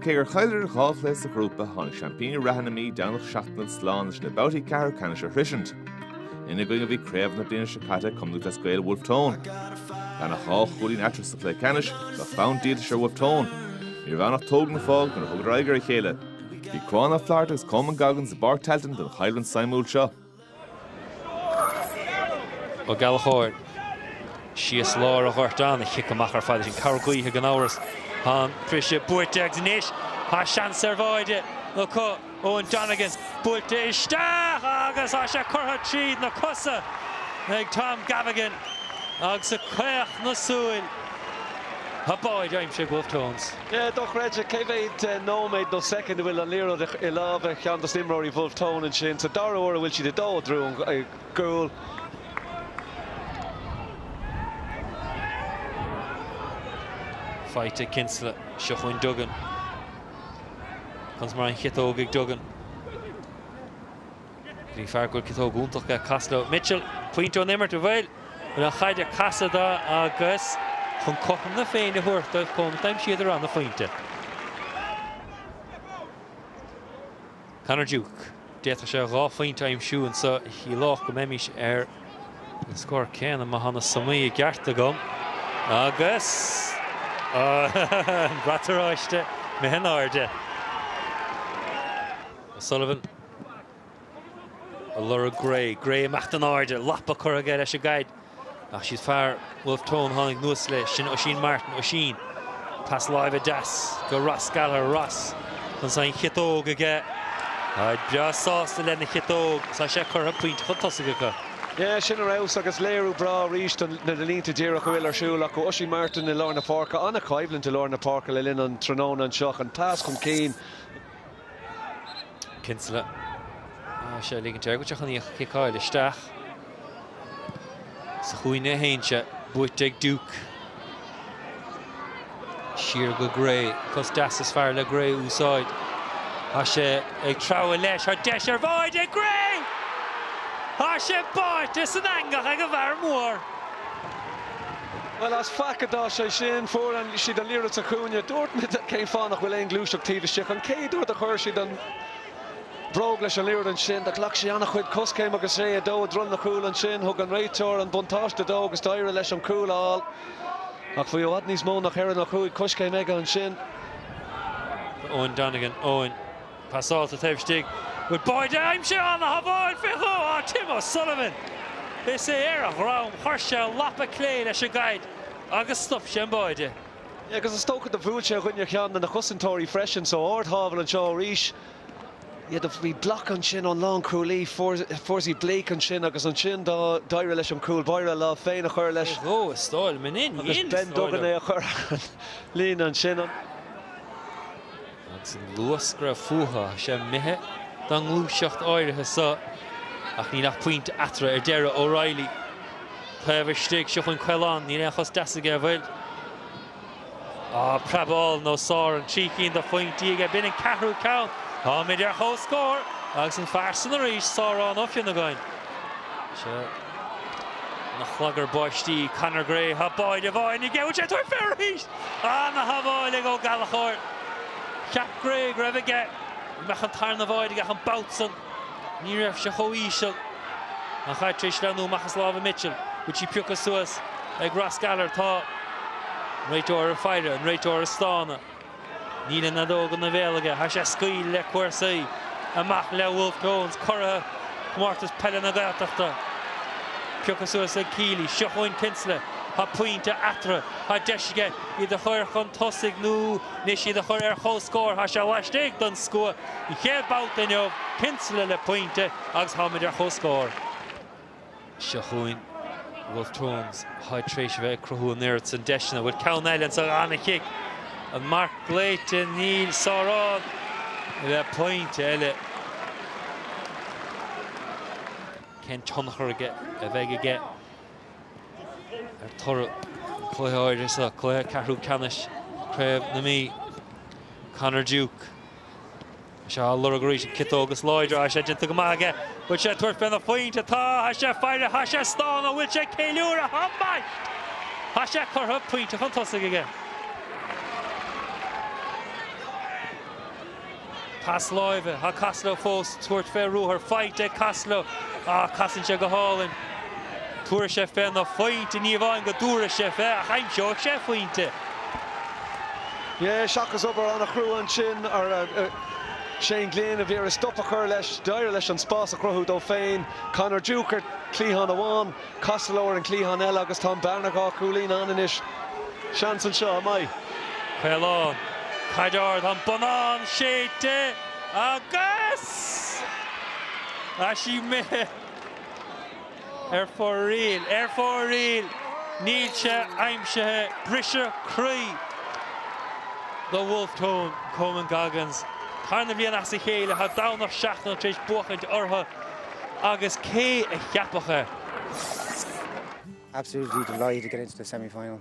Cé gur chailleadar dhá chluiche sa ghrúpa, tháinig seaimpíní reatha na Mí, Domhnach Seachnaill, slán leis na babhtaí ceathrú ceannais a shroisint. Ina gcoinne a bhí craobhacha na bliana seo caite, Connmúid as Gaeil Bhulf Tón. Gan ach dhá chúilín eatarthu sa chluiche ceannais, bheadh fonn díoltais ar Bhulf Tón. Ní raibh ann ach tóg nó fág nuair a thugadar aghaidh ar a chéile. Bhí Cuán Ó Flatharta agus Coman Goggins i bPáirc Tailteann don choimhlint suimiúil seo. Ó Gallchóir, síos lár an ghoirt an-chic amach ar fad, sin cabhair gaoithe gan amhras. Tá an briseadh buaite agus anois tá seans ar bháide acu. Eoin Donegan buailte isteach agus tá sé curtha tríd na cosa ag Tom Gavigan agus i gcaochadh na súl, tá báide aimsithe ag Wolfe Tones. Dochreidte cé mhéad nóiméad nó soicind a bhfuil an liathróid i lámha cheann dos na imreoirí Bhulf Tón ansin sa dara huair a bhfuil siad ag dul i dtreo an gcúl. Faighte ag Kinsella. Seo chugainn Duggan. Conas mar an chiotóg ag Duggan. Ní fear gur ciotóg iontach mé a casadh leo. Mitchell, pointe ón imirt, an bhfuil an chaid ag casadh dó agus chun cothrom na féinne a thabhairt dóibh chomh maith, d'aimsigh siad a raibh ina phointe. Conor Duke, d'fhéadfadh sé dhá phointe a aimsiú anseo a chiallódh go mbeimís ar an scór céanna má thá na sumaí i gceart agam agus an brat oráiste imithe in airde. O'Sullivan. a lorg Gray. Gray ag imeacht in airde, lapa curtha aige leis an gcaid ach siúd fear Bhulf Tón tháinig anuas leis, sin Oisín Martin. Oisín, pas láimhe deas go Ross Gallagher. Ross, conas tá an chiotóg aige. Táid breá sásta lena chiotóg, tá sé curtha pointe chun tosaigh acu. Yeah, sin ar fheabhas agus léiriú breá arís do na línte díreach a bhfuil ar siúl acu. Oisín Martin i lár na páirce, an-choimhlint i lár na páirce le linn an tráthnóna anseo, chun pas chun cinn, Kinsella tá sé ag ligint air go dtí chun í a chiceáil isteach. Sa chúinne a théann sé, buaite ag Duke. Siar go Gray, cos deas is fearr le Gray a úsáid. Tá sé ag treabhadh leis, tá deis ar bháide ag Gray! Tá sé báite san eangach ag an bhfear mór. Bhuel, as faic a d'fhás sé sin. Fuair siad an liathróid sa chúinne. Dúirt mé cén fáth nach bhfuil aon ghluaiseacht taobh istigh. An chéad uair a chuir siad an bhróg leis an liathróid ansin, do ghlac sé an-chuid coiscéim agus é ag dul i dtreo na cúl ansin. Thug an réiteoir an buntáiste dó agus d'éirigh leis an cúl a fháil. Ach bhí i bhfad níos mó ná ceithre nó cúig choiscéim aige ansin. Eoin Donegan, Eoin. Passáilte taobh istigh, bhfuil báide á aimsiú, ana-shábháil faoi dhó ag Tim O'Sullivan. Is é ar a dhroim chuir sé an lapa clé leis an gcaid agus stop sé an báide. agus is dócha do bhuail sé i gcoinne ceann de na cosantóirí freisin so ard-shábháil anseo arís sea do bhí block ansin ón lánchúlaí Fursey Blake ansin agus ansin do d'éirigh leis an cúl báire a lámh féin a chur leis faoi dhó is dóigh liom in ainm Dé is dóigh liom Ben Duggan é a chur an líne ansin an. agus an luas go raibh fúthu, tá sé imithe don ngluaiseacht áirithe so, ach níl ach pointe eatarthu ar deireadh. O'Reilly, taobh istigh, seo chugainn Caolán, níl aon chos deas aige, an bhfuil? Á, preab álainn ó Sárán, trí cinn de phointí aige, b'in an ceathrú ceann, táimid ar comhscór, agus an fear san arís, Sárán Ó Fionnagáin. Ina chlagar báistí, Conor Gray, Tá báide amháin aige an bhfuil sé ag tabhairt fé arís! Ana-shábháil ag Ó Gallachóir. Cheap Gray go raibh aige go mbeadh an tarna báide aige ach an babhta san ní raibh sé chomh híseal. An chaid tar éis sleamhnú amach as lámha Mitchell. Bhfuil sí pioctha suas ag Ross Gallagher? Tá an réiteoir ag faire, an réiteoir ag stánadh. Níl an fheadóg ina bhéal aige tá sé ag scaoileadh le cúrsaí, amach le Wolfe Tones, curaidh Chomórtas Peile na Gaeltachta. Pioctha suas ag Kealy, seo chugainn Kinsella, tá pointe eatarthu, tá deis aige iad a chur chun tosaigh nó anois iad a chur ar chomhscór, tá sé laistigh don scua an chéad babhta inniu, Kinsella le pointe agus táimid ar chomhscór. Seo chugainn Wolfe Tones táid tar éis a bheith ag cruthú an oiread san deiseanna an bhfuil ceann eile anso? Ana-chic. An marc glaoite Níl Sárán le pointe eile. Cén tionchar a bheidh aige ar toradh an chluiche áirithe seo, cluiche ceathrú ceannais Craobh na Mí? Conor Duke. Tá sé ag lorg arís an chiotóg is láidre tá sé déanta go maith aige. Bhfuil sé ag tabhairt féna phointe? Tá! Tá sé ag faire, tá sé ag stánadh, bhfuil sé ag ceiliúradh? Tá, mar tá sé curtha pointe chun tosaigh aige. Pas láimhe, tá Costello fós ag tabhairt fé ruathar, faighte ag Costello ach casann sé go hálainn. Tabharfaidh sé féna phointe, ní amháin go dtabharfaidh sé fé ach aimseoidh sé pointe. Seachas obair an-chrua ansin, Shane Glynn a bhí ag iarraidh stop a chur leis, d'éirigh leis an spás a chruthú dó féin. Conor Duke ar chliathán amháin, Costello ar an gcliathán eile agus tá an bhearna dhá chúilín ann anois. Seans anseo, an mbeidh? Caolán, caid ard, an bonnán séidte agus deis imithe. Ar fóraoil! Ar fóraoil! Níl sé aimsithe! Briseadh croí do Wolfe Tones, Colman Goggins. Tarna bliain as a chéile tá Domhnach Seachnaill tar éis buachaint orthu agus cé a cheapfadh é? Absolutely delighted to get into the semi-final.